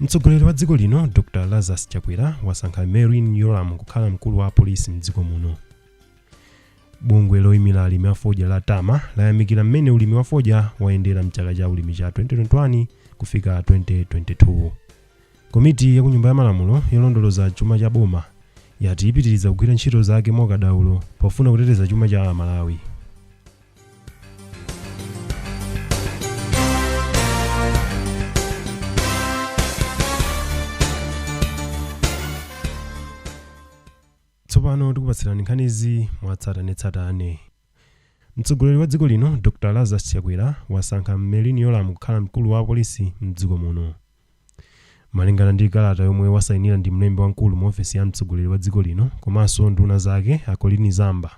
mtsogoleri wa dziko lino dr lazarus chakwera wasankha merlyne yolamu kukhala mkulu wa apolisi mdziko muno bungwe loyimira alimi a fodya la tama layamikira mmene ulimi wa fodya wayendera mchaka cha ulimi cha 2021 kufika 2022 komiti ya kunyumba ya malamulo yolondoloza chuma cha boma yati ipitiriza kugwira ntchito zake mokadaulo pofuna kuteteza chuma cha amalawi tsopano tikupatsirani nkhanizi mwatsatanetsatane mtsogoleri wa dziko lino dr lazarus chakwera wasankha merlyne yolamu kukhala mkulu wa apolisi mdziko muno Malingana ndi kalata yomwe wasainira ndi mlembi wamkulu mu ofesi ya mtsogoleri wa dziko lino komanso nduna zake a Colleen Zamba,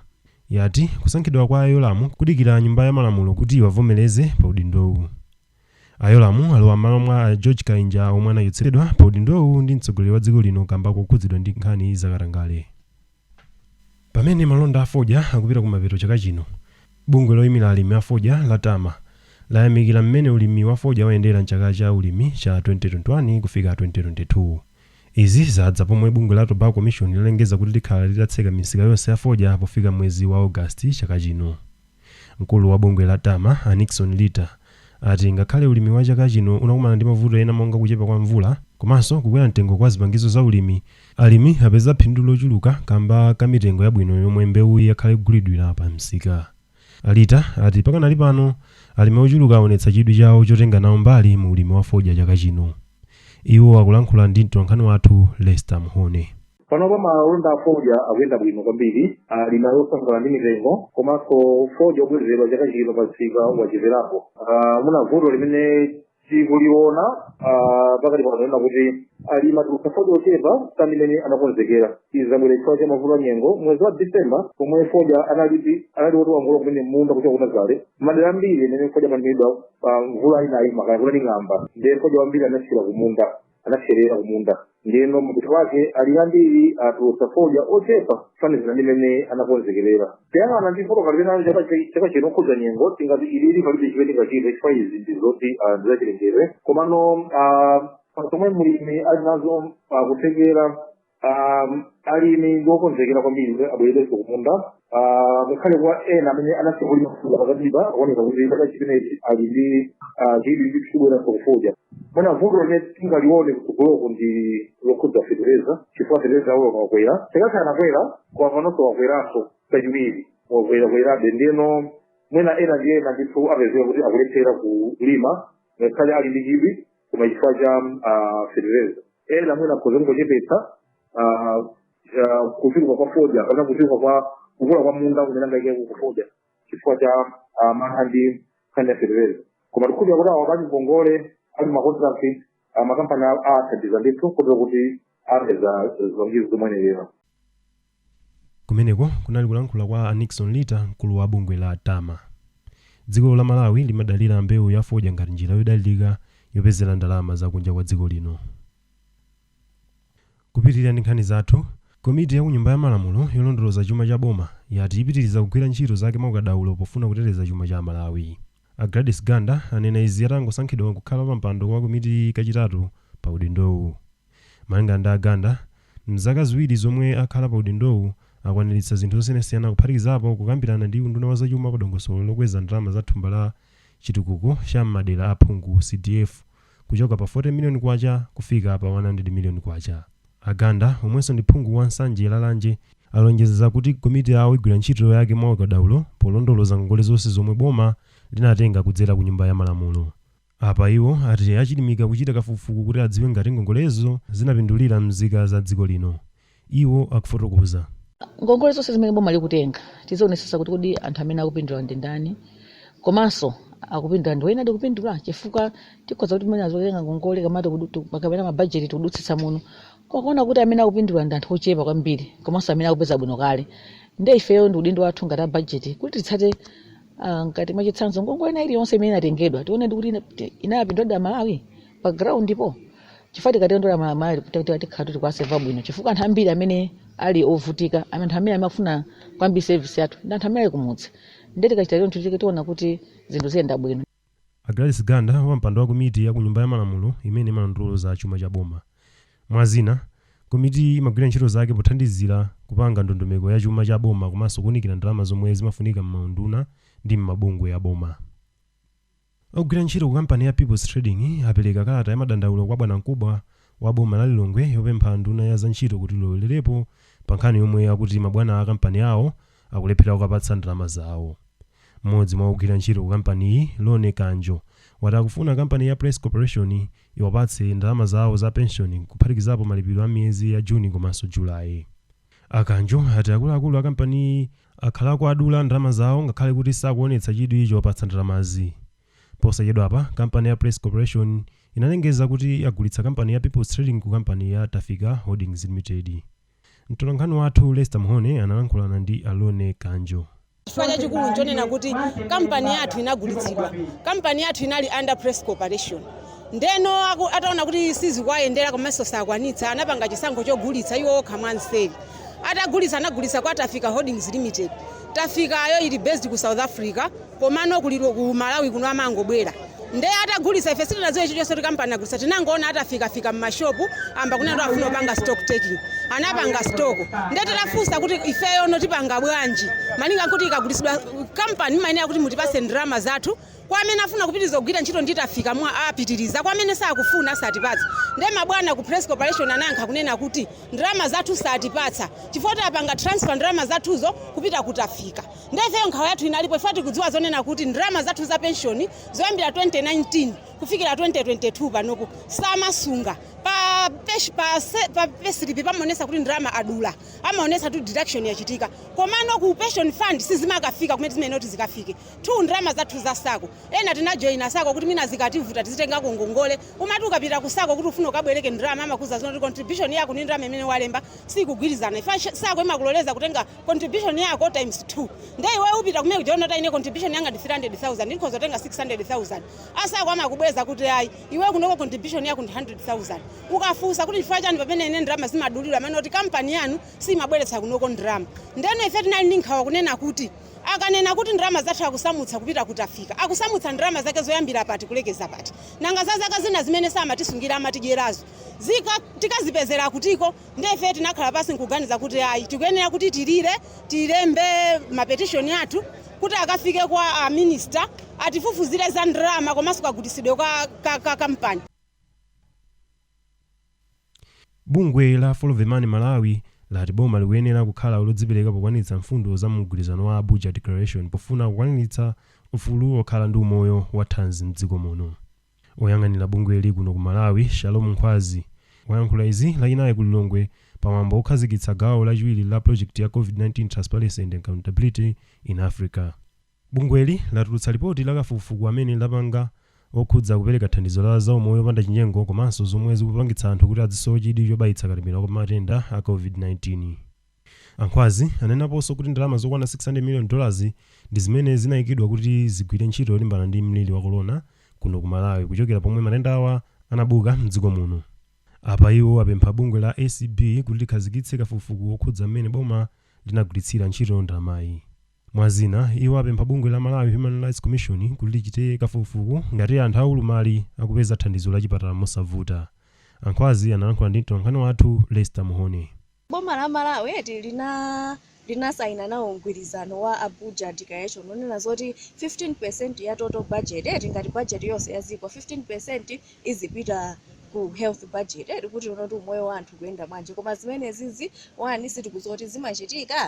yati kusankhidwa kwa a Yolamu kudikira nyumba ya malamulo kuti iwavomereze pa udindowu. A Yolamu alowa m'malo mwa a George Kainja omwe anachotsedwa pa udindowu ndi mtsogoleri wa dziko lino kamba kokhudzidwa ndi nkhani zakatangale. Pamene malonda a fodya akupita kumapeto chaka chino, bungwe loimira alimi a fodya la Tama layamikira mmene ulimi wa fodya wayendera m'chaka cha ulimi cha 2021 kufika 2022. Izi zadza pomwe bungwe la Tobacco Commission lalengeza kuti likhala litatseka misika yonse ya fodya pofika mwezi wa August chaka chino. Mkulu wa bungwe la Tama, a Nixon Lita, ati ngakhale ulimi wa chaka chino unakumana ndi mavuto ena monga kuchepa kwa mvula komanso kukwera mtengo kwa zipangizo za ulimi, alimi apeza phindu lochuluka kamba ka mitengo yabwino yomwe mbewuyi yakhala ikugulidwira pa msika. A Lita ati pakanali pano, alimi ochuluka awonetsa chidwi chawo chotenga nawo mbali mu ulimi wa fodya chaka chino. Iwo akulankhula ndi mtolankhani wathu Lester Mhone. panopa malonda a fodya akuyenda bwino kwambiri alimi ndi osangalala ndi mitengo komanso fodya obwezeredwa chaka chino pa msika wacheperapo Ah, mwina vuto limene tikuliona ah, pakati pano ndi lakuti alimi atulutsa fodya ochepa kusiyana ndi mmene anakonzekera izi zabwera chifukwa cha mavuto a nyengo mwezi wa disemba pomwe fodya analipi anali woti wangolowa kumene mmunda kuchoka ku nazale madera ambiri amene fodya amalimidwa mvula inaima kaye kunali ng'amba ndiye fodya wambiri anasiyira kumunda anapserera kumunda ndiyeno mapeto ake alimi ambiri atulutsa fodya ochepa kufanizira ndi mmene anakonzekerera tiyang'ana ndi vuto limene lili chaka chi- chaka chino lokhudza nyengo tingati ililo palibe chimene tingachite chifukwa izi ndi zoti ah, ndi zachilengedwe komano ah, zomwe mlimi ali nazo ah, kuthekera um, alimi ndi okonzekera kwambiri kuti abwererenso kumunda Ah, ngakhale kwa ena amene anasiya kulima fodya pakatipa akuoneka kuti chaka chimenechi ali ndi ah, chidwi chobweranso kufodya mwina vuto limene tingalione kutsogoloko ndi lokhudza fetereza chifukwa fetereza wakwera chaka chatha anakwera koma panonso wakweranso kachiwiri wakwerakwerabe ndiyeno mwina ena ndi ena ndithu apezeka kuti akulephera kulima ngakhale ali ndi chidwi koma chifukwa cha ah, fetereza ena mwina akhoza kungochepetsa ah, kuchuluka kwa fodya kapena kuchuluka kwa kukula kwa munda kumene angaike kufodya chifukwa cha ah, mantha ndi nkhani ya fetereza koma tikhulupira kuti awo apangongole ali makontrakt makampani a- athandiza ndithu kotero kuti apeza zipangizo zoyenerera kumeneko kunali kulankhula kwa a nixon lita mkulu wa bungwe la tama dziko la malawi limadalira mbewu ya fodya ngati njira yodalirika yopezera ndalama zakunja kwa dziko lino kupitirira ndi nkhani zathu komiti ya kunyumba ya malamulo yolondoloza chuma cha boma yati ipitiriza kugwira ntchito zake mwaukadaulo pofuna kuteteza chuma cha malawi A Gladys Ganda anena izi atangosankhidwa kukhala pa mpando wa komitiyi kachitatu pa udindowu. Malingana ndi a Ganda, m'zaka ziwiri zomwe akhala pa udindowu, akwaniritsa zinthu zosiyanasiyana kuphatikizapo kukambirana ndi unduna wa zachuma pa dongosolo lokweza ndalama za thumba la chitukuko cha m'madera a phungu, CDF, kuchoka pa K40 miliyoni kufika pa K100 miliyoni. A Ganda, omwenso ndi phungu wa Nsanje Lalanje, alonjeza kuti komiti yawo igwira ntchito yake mwa ukadaulo polondoloza ngongole zonse zomwe boma linatenga kudzera ku Nyumba ya Malamulo. Apa iwo ati achilimika kuchita kafukufuku kuti adziwe ngati ngongolezo zinapindulira mzika za dziko lino. Iwo akufotokoza. Ngongole zonse zimene boma likutenga tizionetsetsa kuti kodi anthu amene akupindula ndi ndani komanso akupindula ndi oyenadi kupindula? Chifukwa tikhoza kuti mwina tizitenga ngongole kapena tikudu- tiku- kapena mabajeti tikudutsitsa muno koma kuona kuti amene akupindula ndi anthu ochepa kwambiri komanso amene akupeza bwino kale. Ndiye ifeyo ndi udindo wathu ngati a bajeti kuti titsate ah, ngati mwachitsanzo ngongole ina iliyonse imene inatengedwa tione kuti ina- ti- inapinduladi Amalawi. pa groundpo chifukwa tikatengera amalawi tikutikuti tikhala kuti tikuwaseva bwino chifukwa anthu ambiri amene ali ovutika amene anthu amene amafuna kwambiri service yathu ndi anthu amene ali kumudzi ndiye tikachita choncho tike tiona kuti zinthu ziyenda bwino a gladys ganda wapampando wa komiti ya ku nyumba ya malamulo imene imalondoloza chuma cha boma mwa zina komitiyi imagwira ntchito zake pothandizira kupanga ndondomeko ya chuma cha boma komanso kuunikira ndalama zomwe zimafunika m'maunduna ndi m'mabungwe ya boma Ogwira ntchito ku kampani ya Peoples Trading apereka kalata ya madandaulo kwa bwanamkubwa wa boma la Lilongwe yopempha nduna ya za ntchito kuti ilowererepo pa nkhani yomwe akuti mabwana a kampani yawo akulephera kuwapatsa ndalama zawo. M'modzi mwa ogwira ntchito ku kampaniyi, Lone Kanjo, wati akufuna kampani ya Press Corporation iwapatse ndalama zawo za penshoni kuphatikizapo malipiro a miyezi ya June komanso July. A Kanjo ati akuluakulu a kampaniyi akhala akuwadula ndalama zawo ngakhale kuti sakuonetsa chidwi chowapatsa ndalamazi. Posachedwapa, kampani ya Press Corporation inalengeza kuti yagulitsa kampani ya Peoples Trading ku kampani ya Tafika Holdings Limited. Mtolankhani wathu Lester Mhone analankhulana ndi a Lone Kanjo. Chifukwa chachikulu nchonena kuti kampani yathu inagulitsidwa, kampani yathu inali under Press Corporation. Ndeno aku- ataona kuti sizikuwayendera komanso saakwanitsa, anapanga chisankho chogulitsa iwo okha mwamseri. Atagulitsa anagulitsa kwa Tafika Holdings Limited. Tafikayo ili based ku South Africa komano ku Lilo- ku Malawi kuno amangobwera. Nde atagulisa ife sitinaziwe chichose choti kampani agulisa tinangoona atafika fika mma shop amba kunena kuti akufuna kupanga stock taking anapanga stock nde titafusa kuti ifeyono tipanga bwanji malinga nkuti ikagulisidwa kampani mmayenera kuti mutipase ndalama zathu kwa amene afuna kupitiliza kugwira ntchito ndi tafika mwina apitiliza kwa amene sakufuna satipatsa nde mabwana ku press corporation anayankha kunena kuti ndalama zathu satipatsa chifukwa apanga transfer ndalama zathuzo kupita ku tafika Ndiye ifeyo nkhawa yathu inalipo chifukwa tikudziwa zonena kuti ndalama zathu za penshoni zoyambira 2019 kufikira 2022 panopo samasunga pa pesh- pa se- pa pesilipi pamaonesa kuti ndalama adula amaonesa kuti deduction yachitika komano ku pension fund sizimakafika kumene zimene kuti zikafike two ndalama zathu za sako ena tinajoyina sako kuti mwina zikativuta tizitengako ngongole umati ukapita ku sako kuti ufuna ukabwereke ndalama amakuuza zonena kuti contribution yako ndi ndalama imene walemba sikugwirizana ifa sako imakuloleza kutenga contribution yako times 2 ndiye iwe upita kumene kuja wona kuti ine contribution yanga ndi 300000 ndikhoza kutenga 600000 a sako amakubweza kuti ayi iwe kunoko contribution yako ndi 100000 ukafunsa kuti chifukwa chani pamene ine ndalama zimadulidwa amanena kuti kampani yanu simabweretsa kunoko ndalama ndeno ife tinali ndi nkhawa kunena kuti akanena kuti ndalama zathu akusamutsa kupita ku Tafika akusamutsa ndalama zake zoyambira pati kulekeza pati nanga za zaka zina zimene samatisungira amatidyerazo zika tikazipezera kutiko Ndiye ife tinakhala pansi n'kuganiza kuti ayi, tikuyenera kuti tilire, tilembe mapetishoni athu kuti akafike kwa a minista atifufuzire za ndalama komanso kagulitsidwe ka, ka kampani. Bungwe la Follow the Money Malawi lati boma likuyenera kukhala lodzipereka pokwaniritsa mfundo za mu mgwirizano wa Abuja Declaration pofuna kukwaniritsa ufulu wokhala ndi umoyo wathanzi m'dziko muno. Oyang'anira bungweli kuno ku Malawi, Shalom Nkhwazi, wayankhula izi lachinayi ku Lilongwe pa mwambo wokhazikitsa gawo lachiwiri la pulojekiti ya Covid-19 Transparency and Accountability in Africa. Bungweli latulutsa lipoti la kafukufuku amene lapanga wokhudza kupereka thandizo la za umoyo opanda chinyengo komanso zomwe zikupangitsa anthu kuti adzisowe chidwi chobayitsa katemera wa matenda a Covid-19. A Nkhwazi anenaponso kuti ndalama zokwana 600 million dollars ndi zimene zinaikidwa kuti zigwire ntchito yolimbana ndi mliri wa Corona kuno ku Malawi kuchokera pomwe matendawa anabuka mdziko muno. Apa iwo apempha bungwe la acb kuti likhazikitse kafukufuku wokhudza mmene boma linagwiritsira ntchito ndalamayi. Mwa zina, iwo apempha bungwe la Malawi Human Rights Commission kuti lichite kafukufuku ngati anthu a ulumali akupeza thandizo la chipatala mosavuta. A Nkhwazi analankhula ndi mtolankhani wathu Lester Mhone. Boma la Malawi eti linasayina nawo mgwirizano wa Abuja Declaration onena zoti 15% ya total budget eti ngati budget yonse ya dziko 15% izipita ku health budget eti kuti tione kuti umoyo wa anthu ukuyenda bwanji koma zimenezizi onani sitikudziwa zoti zimachitika?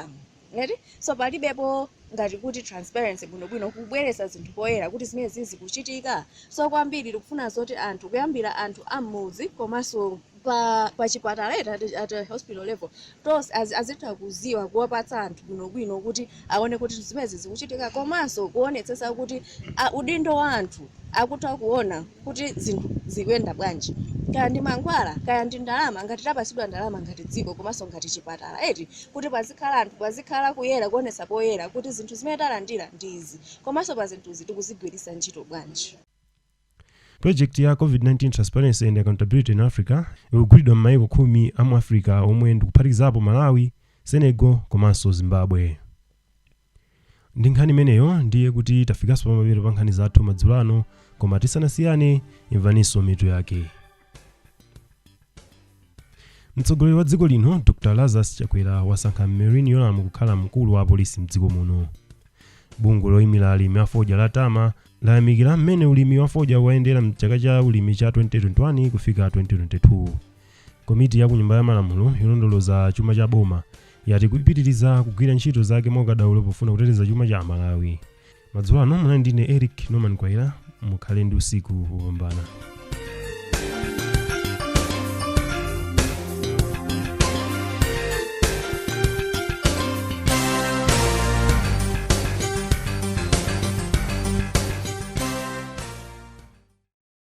Eti? So palibepo ngati kuti transparency bwinobwino kubweretsa zinthu poyera kuti zimenezi zikuchitika. So kwambiri tikufuna zoti anthu kuyambira anthu a m'mudzi komanso pa chipatala eti at, at a hospital level tonse az, azitha kuziwa kuwapatsa anthu bwinobwino kuti aone kuti zimenezi zikuchitika komanso kuonetsetsa kuti a, udindo wa anthu akutha kuona kuti zinthu zikuyenda bwanji kaya ndi mankhwala kaya ndi ndalama ngati tapasidwa ndalama ngati dziko komanso ngati chipatala eti kuti pazikhala anthu pazikhala kuyera kuonetsa poyera kuti zinthu zimene talandira ndi izi komanso pa zinthuzi tikuzigwiritsa ntchito bwanji Project ya COVID-19 Transparency and Accountability in Africa ikugwiridwa m'mayiko khumi a mu Africa omwe ndikuphatikizapo Malawi, Senegal komanso Zimbabwe. Ndi nkhani imeneyo ndiye kuti tafikanso pamapeto pa nkhani zathu madzulo ano, koma tisanasiyane imvaninso mitu yake. Mtsogoleri wa dziko lino Dr Lazarus Chakwera wasankha Merlyne Yolamu kukhala mkulu wa apolisi mdziko muno. Bungwe loyimira alimi a fodya la Tama layamikira mmene ulimi wa fodya wayendera m'chaka cha ulimi cha 2021 kufika 2022. Komiti ya ku Nyumba ya Malamulo yolondoloza chuma cha boma yati ikupitiriza kugwira ntchito zake mwaukadaulo pofuna kuteteza chuma cha Amalawi. Madzulo ano munali ndine Eric Norman Mkwaira, mukhale ndi usiku wopambana.